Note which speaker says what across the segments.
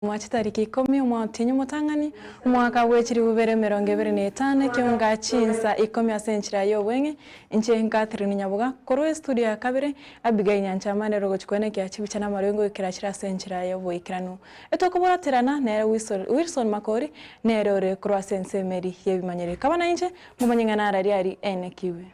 Speaker 1: Mwachete tariki ikomi, omwao otienyi omotang'ani, omwaka bwe chiribubere emerongo ebere na etano, ekeunga chinsa ikomi ase enchera y'obweng'e, inche Catherine Nyabuga, korwa estudio ya kabere, Abigail Nyancha amane ere ogochukwa n'ekea chibicha na amarwenge goikera achire ase enchera y'oboikeranu. Etokoboraterana nere Wilson Makori, nere ore korwa ase ense emeri y'ebimanyereri. Kaba nainche, Omonyeng'ena ararie ari ainekigwe.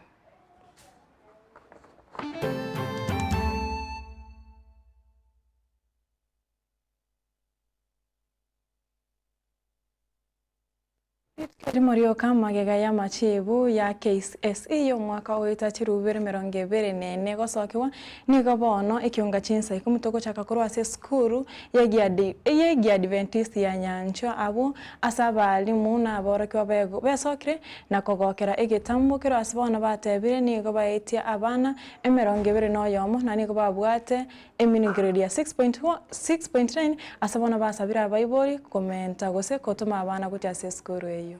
Speaker 1: Rimo rioka magega y'amachiibo ya KCSE y'omwaka oyo etacherwa bibero emerongo ebere na ene egosokerwa, nigo bono ekionga chinsa ikomotogochaka korwa ase esukuru y'Ekiadventisti ya Nyanchwa abwo Ase abaalimu na aborokigwa bego besokire na kogokera egetambo, kero ase bono batebire nigo baetie abana emerongo ebere na oyomo, na nigo babwate eminigiredi ya 6.9, ase bono basabire abaibori komenta gose gotoma abana gochia ase esukuru eyio.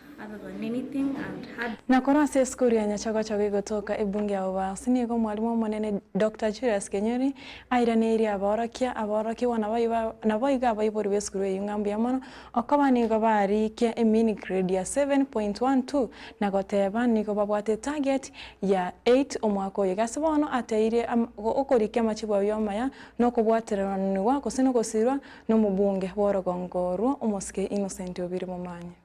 Speaker 2: Na korwa ase esukuru ya
Speaker 1: Nyachogochogo igotoka ebunge ao baasi, nigo Omwalimu Omonene, Doctor Julius Kenyori, airaneirie abaorokia, abaorokigwa na boigo abaibori b'esukuru eyio ng'a mbuya mono okoba nigo barikia emean grade ya 7.12 na goteba nigo babwate target ya 8 omwaka oyo. Gase bono ateire okorikia amachibu ayio amaya nokobwateranigwa gose nogosiirwa nomobunge bw'orogongo orwo omosike Innocent Obiri Momanya.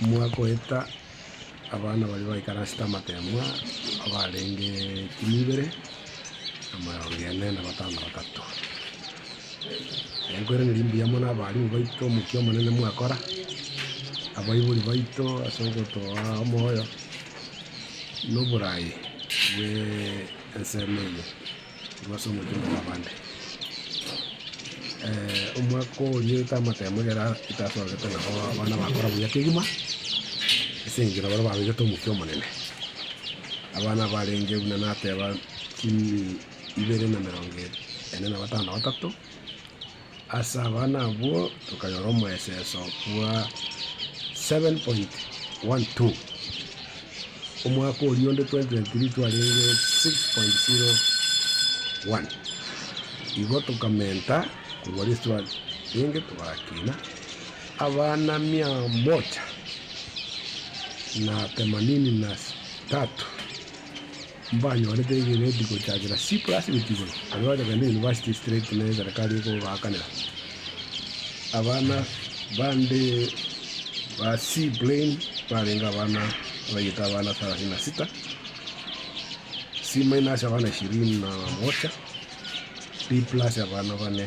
Speaker 3: Mwagoeta abana baria baikaransete amateemwa abarenge chilifu ibere na amarongo ane na batano na batato. Mwaikweraniri mbuya mono abarimu baito omokia omonene mwakora, abaibori baito ase ogotoa omoyo na oboraai bw'ensemo eye. Korwa ase omochie omwa abande. Omwaka oria ete amatemo ekero tasorete nabo abana bakora buya kegima, ase eng'encho nabaria babegete omokia omonene. Abana abarenge buna nateba chimi ibere na emerongo ene na batano na batato. Ase abana abwo tokanyora omoeseso bwa 7.12. Omwaka oria onde 2023 twarenge 6.01. Igo tokamenta korwa rese twarenge togakina abana mia moja na themanini na tatu. Mbanyorete egeneti gochakera C+ gochia igoro, aria gwachakana na university straight ne eserekari ekobaakanera. Abana bande ba C plain barenge abana abaiyete abana thelathini na sita, C- abana ishirini na moja, B+ abana bane.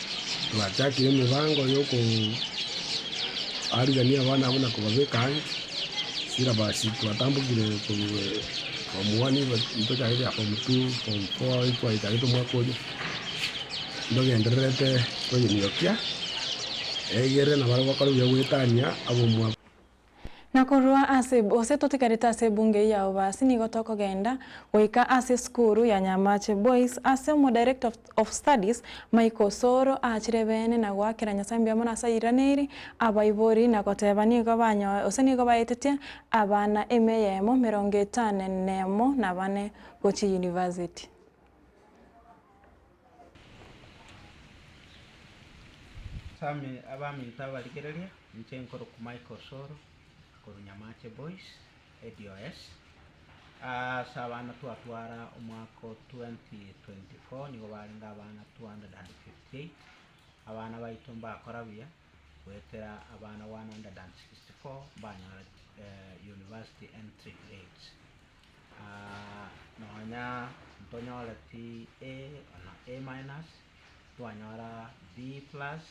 Speaker 3: Twachakire emebango y'okoarigania abana abwo na kobabeka ang'e. Silabasi twatambokire korwa form one intwe chagete ya form two, form four ekwaichagete omwaka oria, ntogendererete koyemiokia, egere nabaria gokora buya goetania ab'omwabo. Na
Speaker 1: korwa ase gose totigarete ase ebunge eye ya Obasi nigo tokogenda goika ase esukuru ya Nyamache Boys ase Omodirector of of Studies Mike Osoro aachire beene na goakera Nyasae mbiamana ase airiraneri abaibori na goteba nigo banyoe gose nigo baetetie abana emeyemo merongo etane nemo nabane gochia University.
Speaker 4: Ase abaminto abarigereria, inche nkorokwa Mike Osoro korwa Nyamache Boys, ADOS. Ase abana twatwara omwaka o twenty twenty four nigo barenge abana two hundred and fifty eight, abana baito mbakora buya goetera abana one hundred and sixty four mbanyora university entry grades. nonya ntonyore pi A ona A minus, twanyora B plus,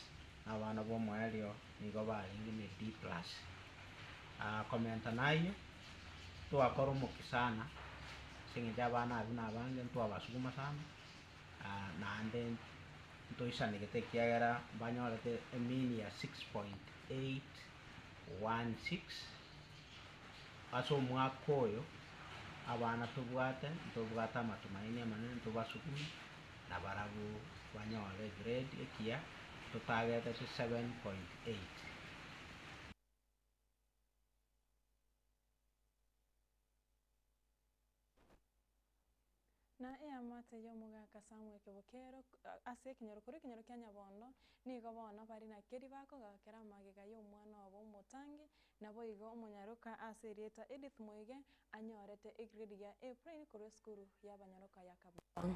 Speaker 4: na abana b'omoerio nigo barenge ne D plus. Komenta nayio, twakora omokia sana ase eng'encho abana abwo nabange ntwabasuguma sana, naende ntoisanegete ekiagera mbanyorete e mean ya six point eight one six. Ase omwaka oyo abana tobwate ntobwate amatumaini amanene ntobasukume nabarabwo banyore egrade ekiya totageteti 7.8.
Speaker 1: Na eamate y'omogaka Samu ekebo kero ase ekenyoro korwa ekenyoro kia nyabondo, nigo bono bare na keria bakogaakera amagega y'omwana obo omotangi, naboigo omonyaroka ase erieta Edith Muige anyorete egrade ya A plain korwa esukuru y'abanyaroka ya
Speaker 5: Kabuchai.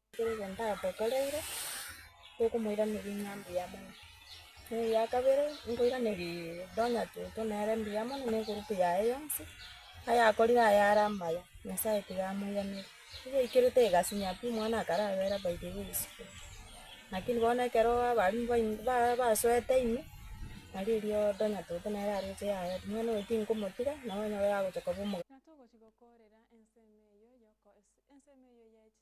Speaker 6: Ekero ndabotoreire, tokomoiraneria ng'a mbuya mono. Na eria kabere, nkoiraneria tonya toto nere mbuya mono na egurupu yaye yonsi, ayakorire aye are amaya, Nyasaye tiga amoiranerie. Eyaikirete egasinya pi, omwana akarabera by the way isiko. Lakini bono ekero abaarimwa bain- ba- basoete ime, nari erio tonya toto nere aroche yaya ati mwana oyo tinkomotiga, nonye ore agocha koba omo.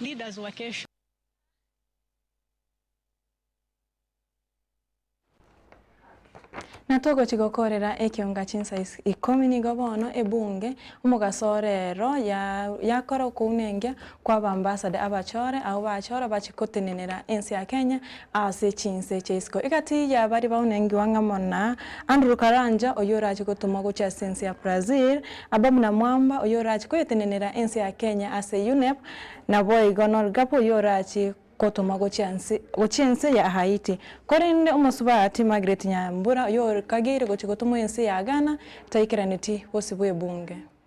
Speaker 7: Leaders
Speaker 1: wa kesho. Na togochi gokorera ekionga chinsa ikomi nigo bono ebunge omogaso orero yakora okounengia kwa abambasade abachore, abwo bachora bache gotenenera ense ya Kenya Ase chinse chia isiko egati ya baria baunengigwa ng'a muna Andrew Karanja oyio orache gotumwa gochia ase ense ya Brazil, Ababna Mwamba oyio orache koetenenera ense ya Kenya ase UNEP, naboigo Norgap oyio orache gotumwa gochia ense ya Haiti. Korende omosubati Margaret Nyambura oyio okageire gochia gotumwa ense ya Ghana taikeraneti bosibwa ebunge.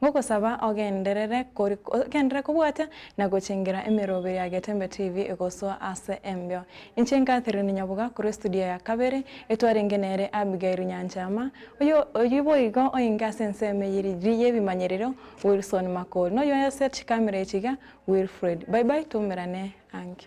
Speaker 1: Ngogosaba ogenderere kori ogenderere kobwata na gochengera emeroberi ya Getembe TV egosoa ase embeo. Inche Catherine Nyabuga korwa estudio ya kabere, etwarenge nere Abigail Nyanchama, oyo oyio boigo oinge ase ensemo eye ri yebimanyerero Wilson Makori, noyio ase chikamera echi iga Wilfred. Bye bye twaumerane ange.